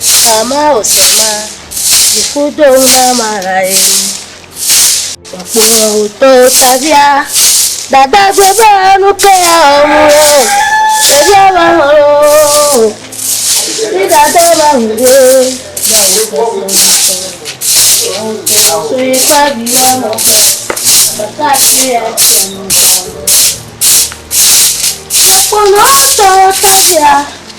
Sama o sama, dzi ƒu do ŋu na Marae. Kpɔkpɔ o to tavia, dada gbe be nu ke ya o mu o. Tavia ba ho o, mi dada ba ho de, ba o to so mi so. O to so yi pa bi wa mo ke, ba ka ti ya ti mo. Kpɔkpɔ o to tavia.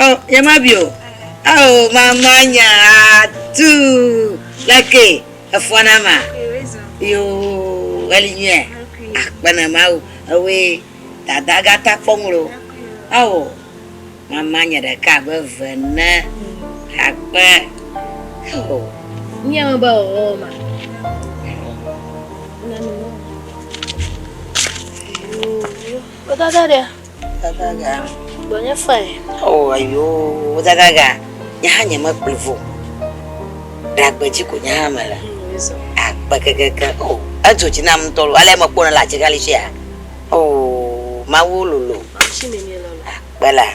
Oh, yemabi o. Oh, mama nya tu leke efɔ na ma. Yo, eli nyuia. Akpena Mawu. Ewe dada gata kpɔ ŋlo. Oh, mama nya ɖeka be ve ne akpe. Oh. Nya me ba o ma. Yo, yo. Kota da dia. Gagaga. Gbɔ nye fae. O ayoo gagaga nye hã nye me kplivɔ o ɖagbe dzi ko nye hã me le agbe kekeke o edzo dzi nam ŋutɔ ale me kpɔ ne le atsigali sia o mawu lolo agbe la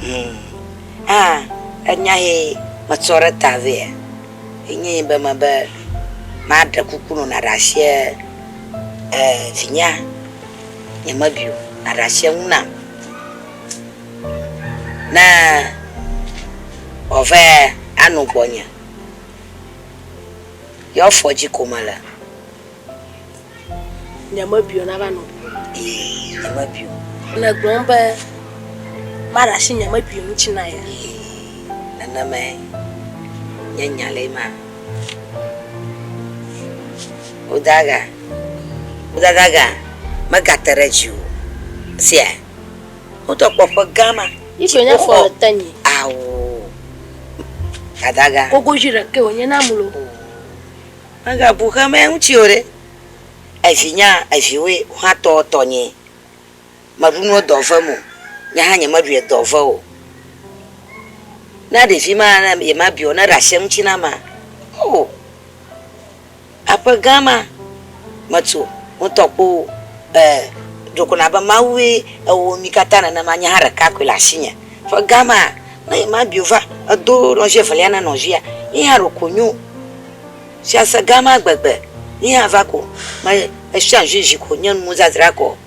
hmm ah enya he me tsɔ ɖe ta vɛ enye be me be ma ɖe kuku nɔ na ɖe asie eh vinya Nyemeɖui o, nàɖe asi eŋu nam. Ne wòava ano gbɔnye, ye afɔ dzi ko mele. Nyemeɖui o, nava no ŋuwò. Nyemeɖui o. Nègblɔm be maɖe asi nyemeɖui ŋuti na ye. Nenemae nye nya le ema. Wodada, wodadaga megate ɖe dzi o. Sia, wotɔ kpɔ ƒe gã ma. Ŋutsu wofɔ- nyakpɔ le te nyi. Ao, dadaga. Kogoʒui ɖekɛ wònye na mlu. Megabu xemɛ ŋutsi o ɖe. Evi nya eviwoe, wohã tɔ tɔnyee. Meɖu nuwo dɔ vem o. Nye hã nyemeɖui edɔ ve o. Na ɖevi ma ne yemabia o, neɖe asi eŋuti na ma. Oo, aƒe gã ma metu ŋutɔ kpo e ɖo ko na be Mawue ewɔ mi katã nenema, nye hã ɖeka koe le asinye. Ƒe gã ma ne yemabia o va edo nɔvi evelia na nɔvia, ye hã ɖeko nyo. Fiase gã ma gbegbe, ye hã va ko me esia vivi ko nye nuzazra kɔ.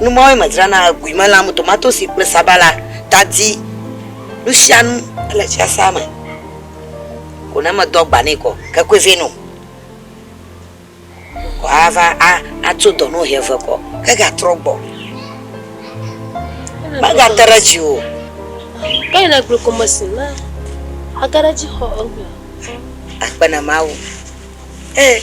Nu mawoe medzrana le guimelãm, tomatosi kple sabala, tadi, nusianu le fiasea me ko ne medo agba nɛ kɔ ke koe vɛ no ko ava atso dɔ no ʋe ve kɔ ke ga trɔ gbɔ mega te ɖe dzi o ke le gbe ko me si na age ɖe dzi xɔ egbe akpena mawu eh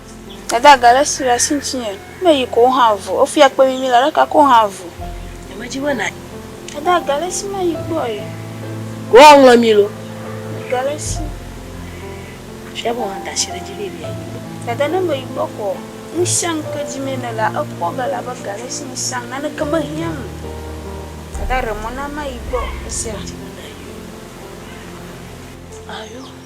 Dada ga ɖe si le asi ŋutinye. Ne yi ko hã vu. Wofia kpe mimi le ɖeka ko hã vu. Nyemedzi be na. Dada ga ɖe si mayi gbɔ ye. Woaŋlɔ mi lo. Ga ɖe si. Fia be wɔna da asi ɖe dzi be yebi ayi gbɔ. Dada ne meyi gbɔ ko. Ŋusẽ ke dzi me nele la ekpɔ ge elabe ga ɖe si ŋusẽ naneke mehiã nu. Dada ɖe mɔ na mayi gbɔ. Esia. Ayo.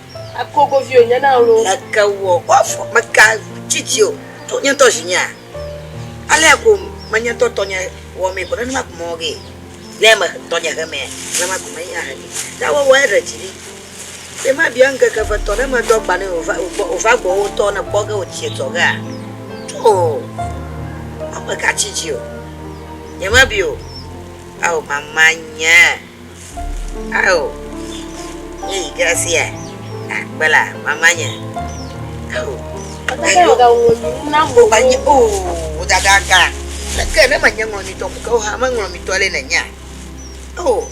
Eko govi o nye na lo. Eke wɔ o afɔ meka dzidzi o to nye ŋutɔ zinyea. Alea ko me nye ŋutɔ tɔnye wɔ mee ko nenema ko mewɔ ge ne me tɔnye he mea nenema ko me ye ahe ge. Ta wɔ wɔ eɖe dzi ɖi be ma bia ŋkeke ve tɔ ne me do agba ne wova wova gbɔ wo tɔ ne kpɔ ge wo tie tɔ gea to o meka tsi dzi o nye ma bi o ao mama nye. Ao, nye yi ke esia akpe la, mama nye. Ao, ayo, o ba nye, o, o dada ga, leke ne ma nye ŋlɔ mi tɔ ku ke o ha me ŋlɔ mi tɔ le ne nya. O,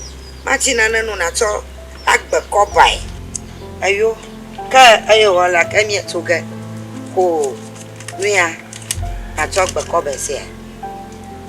ma tsi nane nu na tsɔ agbe kɔ bae. Ayo, ke ayo wɔ la ke mie tso ge ko nuya ma tsɔ gbe kɔ be sia.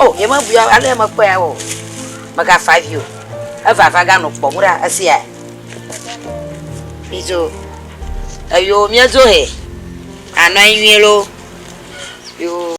Oh yeme bui ale yeme kpɔe ya o. Mega fa vi o. Eva va ga nɔ kpɔ mu ɖa esi ya. Mizo. Eyo mia zo he. Anɔ anyi nyuie lo. Yo.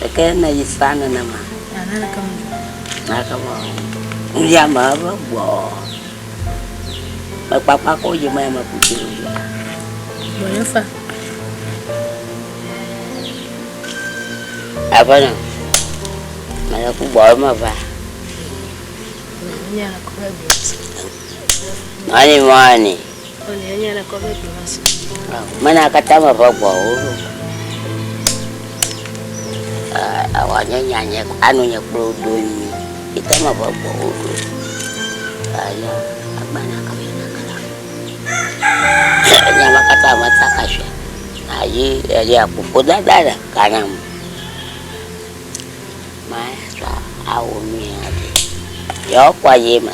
Ɖeke ne yi sa nenema. Ana ɖeke me dzɔ. Na ɖeke me ɔ. Nu ya me ebe gbɔ. Me kpakpa ko yi me me ku tiro yo. Gbɔ ye fa. Ebe ne. Me le ku gbɔ me va. Ani mani. Mena katã me ƒe gbɔwo ɖo. Awa nye nya nye anu nye kplɔ do nyuie. Ete me ƒe gbɔwo ɖo. Aya agbana ka me na kala. Nya me katã me ta ka sue. Ayi eya kuku da da le kana me. Maya sɔ awu nyuie aɖe. Yɔ kwa ye ma.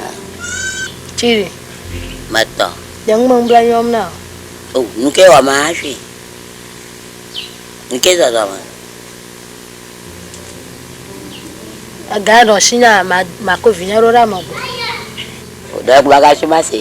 Tsi. Metɔ. Ɖe ŋu me ŋublɔ nyɔm na o. O, nuke wɔ ma hafi? Nuke zɔzɔ me? Ega nɔ ŋsi na ma ma ko vinye ɖo ɖa me go. O, ɖe ŋu ma ga tso ma se.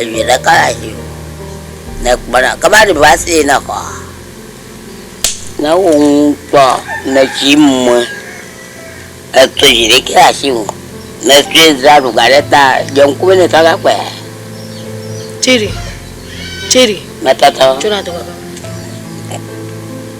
Evi ɖeka le asi me le ekplɔ ɖe kaba ɖe va se ne xɔa. Ne ewɔ nukpɔ le tsi me eto dzi ɖe ke asi me le tsi dza ɖu ga ɖe ta dze ŋku be ne kaka kpɔe. Tsiri tsiri. Mete te. Tsɔna dɔ baba.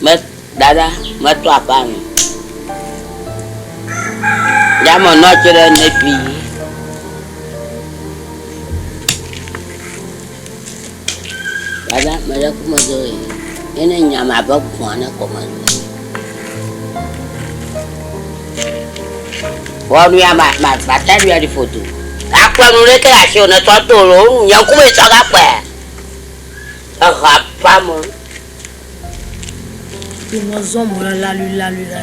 Me, Dada, meto aƒa nu. Ya me nɔ tse ɖe ne fi yi. Dada, me ɖe kuma do yi. Ye ne nya ma be kpɔa ne kɔme do. Wɔnu ya ma ma ma ta du ya di foto. Akpɔ nu ɖe ke asi o ne tɔ to lo. Nya kuma etsɔ gakpɔa. eha ƒã me. Yi me zɔm wòle laluilalui la.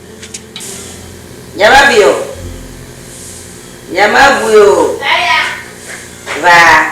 Nyemabi o, nyemebui o, va.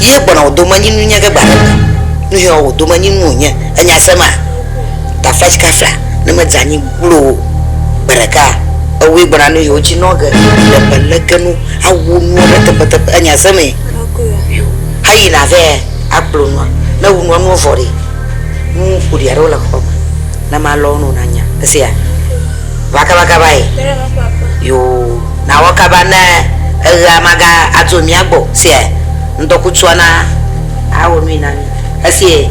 Yie gbɔna wò domenyinu nye ge gbe aɖe me. Nu hɛɔ wò domenyinu wònye. Ènya se ma? Tafaj kafla ne medze anyi gbloo o. Gbe ɖeka ewue gbɔna nu hɛɔ dzi nɔ ge. Ɖe melege nu awu nua ɖe teƒeteƒe. Ènya se mee? Heyina vɛ akplo nua. Ne ewu nua nua vɔ ɖee. Nu ƒoɖi aɖewo le xɔme. Ne malɔ wo ne wonanya. Èsea? va kaba kaba yi yoo na wɔ kaba ne eɣea maga adzo mía gbɔ sia ŋdɔ kutsua na awɔ nui na mi esie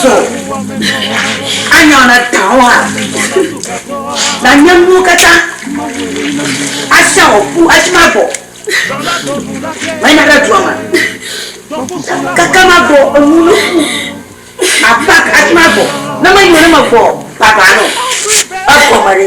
Zɔ anya na dawa na nye nuwo katã asa wɔ ƒu esi ma gbɔ mena ɖe dua me kaka ma gbɔ enu ne ƒu apa esi ma gbɔ ne menyo ne me gbɔ baba nɔ egɔme ɖe.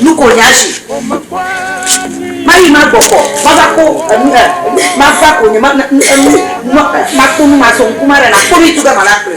Nu ko nya zi. Mayi ma gbɔ kɔ. Ma va ko enu he. Ma va ko nye ma ne enu no ma ko nu ma so ŋku ma re na ko nu itu ge ma na kple.